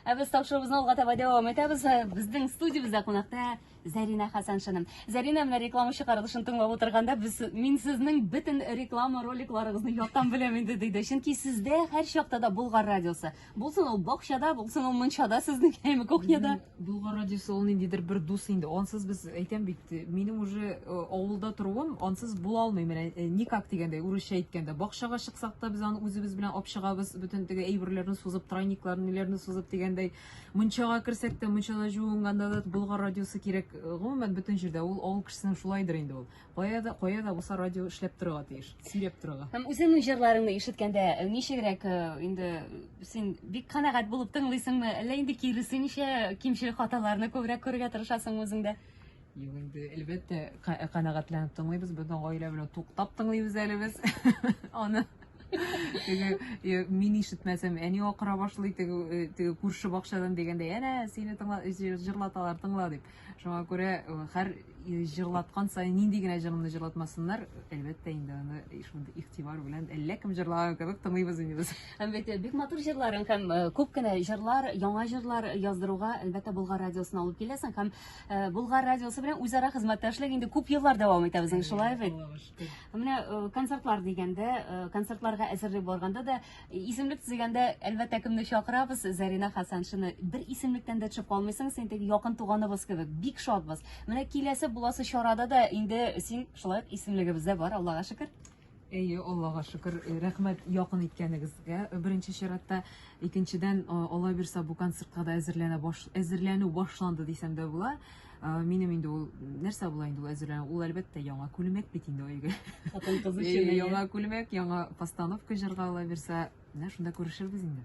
Ә без тапшыруыбызны алга таба дәвам итәбез. Безнең студиябездә кунакта Зәринә Хасаншина. Зәринә менә реклама чыгарылышын тыңлап утырганда без мин сезнең бөтен реклама роликларыгызны яттан беләм инде диде. Чөнки сездә һәр чакта да Болгар радиосы. Булсын ул бакчада, булсын ул мунчада сезнең яме кухняда. Болгар радиосы ул ниндидер бер дус инде. Ансыз без әйтәм бит, минем уже э, авылда торуым ансыз була алмый. Менә э, никак дигәндәй, урысча әйткәндә, бакчага чыксак та без аны үзебез белән алып чыгабыз, бөтен теге әйберләрне сузып, тройникларны, ниләрне сузып дигәндәй. Мунчага керсәк тә, мунчада җуынганда да Болгар радиосы кирәк. Э, гомумән бөтен җирдә ул авыл кешесенең шулайдыр инде ул. Кая да, кая да булса радио эшләп торырга тиеш, сөйләп торырга. Һәм үзеңнең җырларыңны ишеткәндә э, ничегрәк э, инде син бик канәгать булып тыңлыйсыңмы, әллә инде киресенчә кимчел хаталарны күбрәк күрергә тырышасың үзеңдә? Юк инде, әлбәттә, э, канәгатьләнеп тыңлыйбыз, безнең гаилә белән туктап тыңлыйбыз әле без аны. Теге мин ишетмәсәм, әни акыра башлый, теге күрше бакчадан дигәндә, әнә сине тыңла, җырлаталар, тыңла дип. Шуңа күрә һәр җырлаткан саен нинди генә җырымны җырлатмасыннар, әлбәттә инде аны шундый игътибар белән әллә кем җырлаган кебек тыңлыйбыз инде без. Һәм бит бик матур җырларың һәм күп кенә җырлар, яңа җырлар яздыруга әлбәттә Болгар радиосына алып киләсең һәм Болгар радиосы белән үзара хезмәттәшлек инде күп еллар дәвам итә безнең шулай бит. Менә концертлар дигәндә, концертларга әзерли барганда да Исемлек төзегәндә, әлбәттә, кемне чакырабыз? Зарина Хасаншины. Бер исемлектән дә төшеп калмыйсың, син теге якын туганыбыз кебек. Бик шатбыз. Менә киләсе буласы чарада да инде син шулай ук исемлегебездә бар, Аллага шөкер. Әйе, Аллага шөкер, э, рәхмәт якын иткәнегезгә. Э, Беренче чиратта, икенчедән, э, Алла бирса, бу концертка да әзерләнә баш әзерләнү башланды дисәм дә була. Минем инде ул нәрсә була инде ул әзерләнә? Ул әлбәттә яңа күлмәк бит инде өйгә. Хатын кыз өчен яңа күлмәк, яңа постановка җырга ала бирсә, менә шунда күрешербез инде.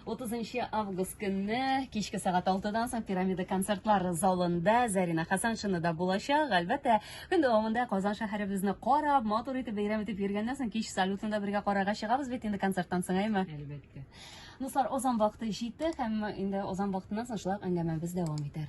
30 август көнне кичке сәгать 6-дан соң Пирамида концертлар залында Зарина Хасаншина да булачак. Әлбәттә, көн дәвамында Казан шәһәребезне карап, матур итеп бәйрәм итеп йөргәннән соң кич салютында бергә карарга чыгабыз бит инде концерттан соң, әйме? Әлбәттә. Дуслар, озан вакыты җитте һәм инде озан вакытыннан соң шулай әңгәмәбез дәвам итәр.